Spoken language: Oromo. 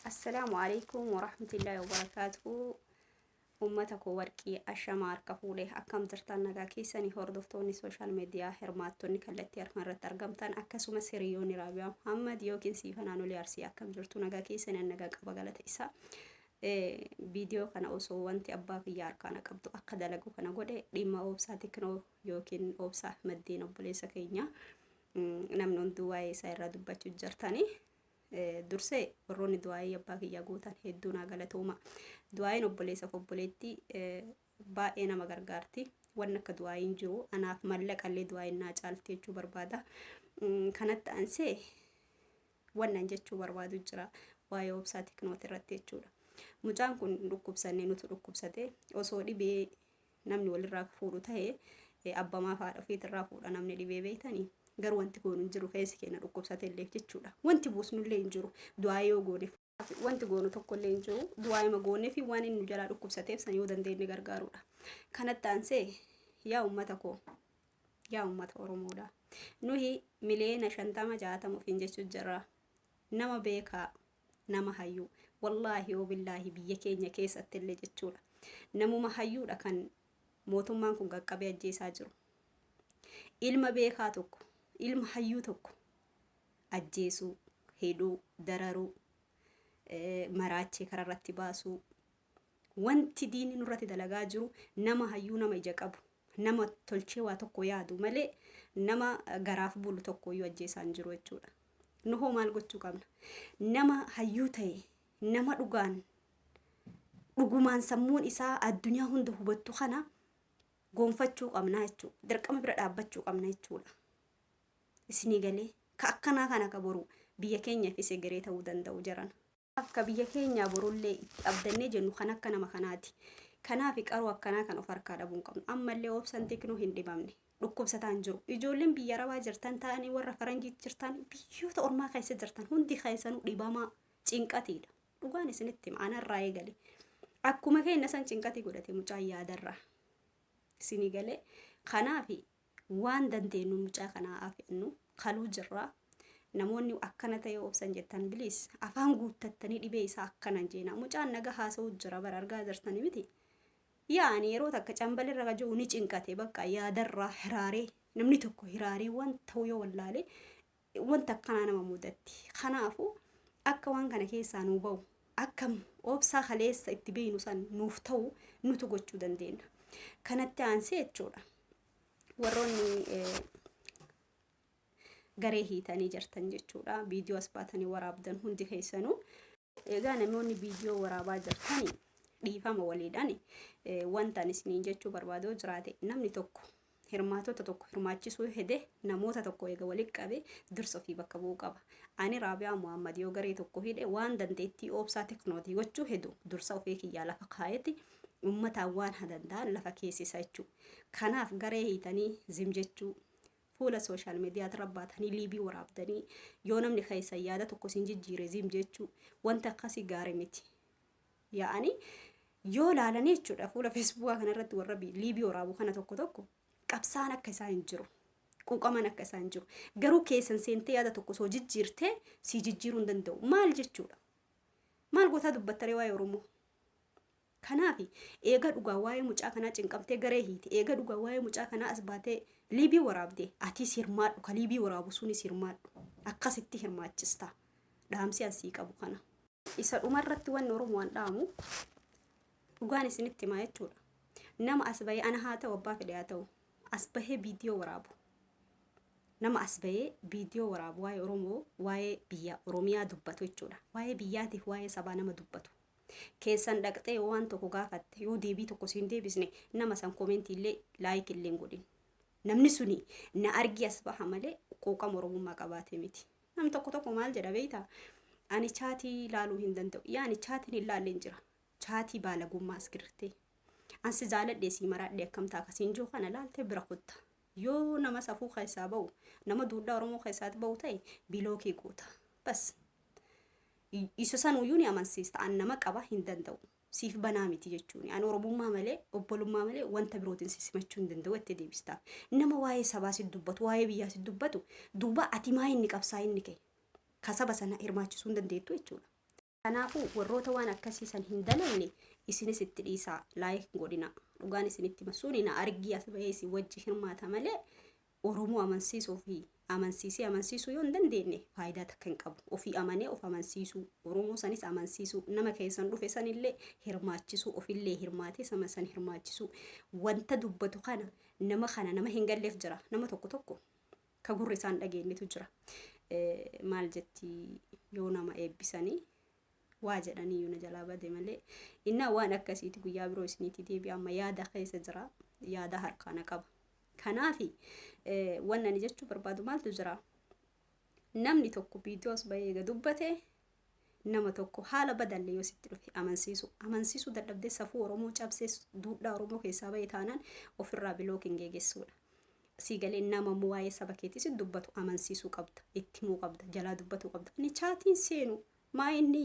Assalaamu alaikum warahmatullahi wabarakatuhu. Uummata koo warqii ashamaa harka fuudhe akkam jirtan nagaa keessanii hordoftoonni sooshaal miidiyaa hirmaattonni kallattii harma irratti argamtan akkasumas hiriyoonni Raabiyaa Muhammad yookiin Siifa Naanolii Arsii akkam jirtu nagaa keessanii nagaa qaba galata isaa. Viidiyoo kana osoo wanti abbaa kiyya harkaana qabdu akka dalagu kana godhe dhimma oobsaa teknoo yookiin oobsaa maddeen obboleessa keenya namni hunduu waa'ee isaa irraa dubbachuu jirtanii dursee warroonni du'aa'ii abbaa kiyyaa gootan hedduu naa galatooma. Du'aa'iin obboleessa koo obboleettii baay'ee nama gargaarti. Wanni akka du'aa'iin jiru anaaf mallaqallee du'aa'iin naa caalti jechuu barbaada. Kanatti ansee wannan jechuu barbaadu jira waa'ee obsaa tiknooti irratti jechuudha. Mucaan kun dhukkubsannee nutu dhukkubsate osoo dhibee namni walirraa fuudhu ta'e eh, abbamaa fi haadha ofiitirraa fuudha namni dhibee beektanii garuu wanti goonu hin jiru keessi keenya dhukkubsate illee jechuudha wanti buusnu illee hin jiru du'aa yoo goone wanti goonu tokko illee hin jiru du'aa ima goonee fi waan inni nu jalaa dhukkubsateef san yoo dandeenye gargaaruudha kanatti aansee yaa ummata koo yaa ummata oromoodha nuhi miliyoona shantama jaatama ofiin jechuu jirra nama beekaa nama hayyuu wallaahi wabillaahi biyya keenya keessatti illee jechuudha namuma hayyuudha kan mootummaan kun qaqqabee ajjeesaa jiru ilma beekaa tokko ilma hayyuu tokko ajjeesuu hidhuu dararuu eh, maraachee karaa irratti baasuu wanti diinni nurratti dalagaa jiru nama hayyuu nama ija qabu Nama tolchee waa tokko yaadu malee nama garaaf bulu tokkooyyuu ajjeesaa hin jiru jechuudha. Nu hoo maal gochuu qabna? Nama hayyuu ta'e, nama dhugaan dhugumaan sammuun isaa addunyaa hunda hubattu kana goonfachuu qabna jechuudha. Dirqama bira dhaabbachuu qabna jechuudha. Isinii galee ka akkanaa kana ka boru biyya keenyaaf isa egeree ta'uu danda'u jarana. Kanaaf ka biyya keenyaa borullee itti abdannee jennu kan akka nama kanaati. Kanaaf qaroo akkanaa kan of harkaa dhabuu hin qabnu. Ammallee obsan tiknuu hin dhibamne. Dhukkubsataan jiru. Ijoolleen biyya arabaa jirtan ta'anii warra faranjiitti jirtan biyyoota ormaa keessa jirtan hundi keessanuu dhibamaa cinqatiidha. Dhugaan isinitti hima anarraa eegale. Akkuma keenya san cinqatii godhate mucaan yaadarraa. Isinii galee kanaafi Waan dandeenyuun mucaa kana haa feennu kaluu jirra. Namoonni akkana ta'ee obsan jettan bilis afaan guuttattanii dhibee isaa akkana hin jeena. Mucaan naga haasa'u jira bara argaa jirtanii miti. Yaa ani yeroo takka cambal irra jiru ni cinqate bakka yaadarraa hiraaree namni tokko hiraaree waan ta'u yoo wallaalee wanti akkanaa nama mudatti. Kanaafu akka waan kana keessaa nuu ba'u akka obsaa kaleessa itti beeynu san nuuf ta'u nutu gochuu dandeenna. Kanatti aansee jechuudha. Warroonni eh, garee hiitanii jirtan jechuudha. Viidiyoo as baatanii waraabdan hundi keessanuu. Egaa namoonni viidiyoo waraabaa jirtani dhiifama waliidhaan wanta ani isiniin jechuu barbaadoo jiraate namni tokko hirmaatota tokko hirmaachisuu hede namoota tokko eega walitti qabe dursa ofii bakka bu'uu qaba. Ani Raabiyaa Muhammad yoo garee tokko hidhe waan dandeettii oobsaa teknootii gochuu hedu dursa ofii kiyyaa lafa kaayeti ummataan waan hadandaa lafa keessisa jechuu. Kanaaf garee hiitanii zim jechuu Fuula social media irra baatanii liibii waraabdanii yoo namni keessan yaada tokko isin jijjiire ziim jechuu wanti akkasii gaarii miti. Yaa'anii yoo laalanii jechuudha fuula feesbuukaa kanarratti warra bi- liibii waraabu kana tokko tokko qabsaan akka isaa hin jiru. Quuqaman akka isaa hin jiru. Garuu keessan seentee yaada tokko osoo jijjiirtee sii jijjiiruu hin danda'u. Maal jechuudha? Maal gootaa dubbattaree waa'ee Oromoo? Kanaafi, eega dhugaa waayee mucaa kanaa cinqamtee garee hiite, eega dhugaa waayee mucaa kanaa as baatee liibii waraabde, atiis hirmaadhu, ka liibii waraabu sunis hirmaadhu. Akkasitti hirmaachista. Dhaamsi an sii qabu kana. Isa dhumarratti wanni Oromoo an dhaamu, dhugaan isinitti himaa jechuudha. Nama as bahee ana haa ta'u abbaa fedhe haa ta'u, as bahee viidiyoo waraabu, nama as bahee viidiyoo waraabu waa'ee Oromoo, waa'ee biyya Oromiyaa dubbatu jechuudha. Waa'ee biyyaatiif waa'ee sabaa nama dubbatu Keessan dhaqxee yoo waan tokko gaafatte yoo deebii tokko siin deebisne nama san komentii illee laayik illee hin godhin. Namni suni na argii as baha malee quuqama oromummaa qabaatee miti. Nam tokko tokko maal jedha beektaa? Ani chaatii ilaaluu hin danda'u. Yaa ani chaatiin hin laalle hin jira. Chaatii baalagummaa as girtee. Ansi jaaladhee sii maraadhee akkamtaa akkasiin jiru kana laaltee bira kutta. Yoo nama safuu keessaa ba'u, nama duudhaa Oromoo keessaati ba'u ta'e bilookii guuta. Bas. Isa sanuuyyuu ni amansiista. An nama qaba hin danda'u. Siif banaa miti jechuuni. An Oromummaa malee, obbolummaa malee wanta birootiin si simachuu hin danda'u jettee deebistaaf. Nama waa'ee sabaa si dubbatu, waa'ee biyyaa si dubbatu duuba ati maa inni qabsaa inni kee? Ka saba sana hirmaachisuu hin dandeettu jechuudha. Kanaafuu warroota waan akkasii san hin dalagne isinis itti dhiisaa laayik hin godhina dhugaan isinitti hima suni na argii as bahee isin wajji hirmaata malee Oromoo amansiisuu fi amansiisee amansiisuu yoo hin dandeenye faayidaa takka hin qabu ofii amanee of amansiisuu Oromoo sanis amansiisuu nama keessan dhufe sanillee hirmaachisuu ofillee hirmaatee sama san hirmaachisuu wanta dubbatu kana nama kana nama hin galleef jira nama tokko tokko ka gurri isaan dhageennetu jira. Maal jetti yoo nama eebbisanii waa jedhanii yoo na jalaa bade malee innaa waan akkasiiti guyyaa biroo isiniitii deebi'a amma yaada keessa jira yaada harkaana qaba. Kanaafi waan ani jechuu barbaadu maaltu jira? Namni tokko viidiyoos bahee eega dubbate nama tokko haala badaalle yoo sitti dhufe amansiisu amansiisuu dadhabdee safuu oromoo cabsee duudhaa oromoo keessaa ba'e taanaan ofirraa bilookiin geegessuudha. Sii galee nama immoo waa'ee saba keetii si dubbatu amansiisuu qabda itti himuu qabda jalaa dubbatuu qabda ani chaatiin seenu maa inni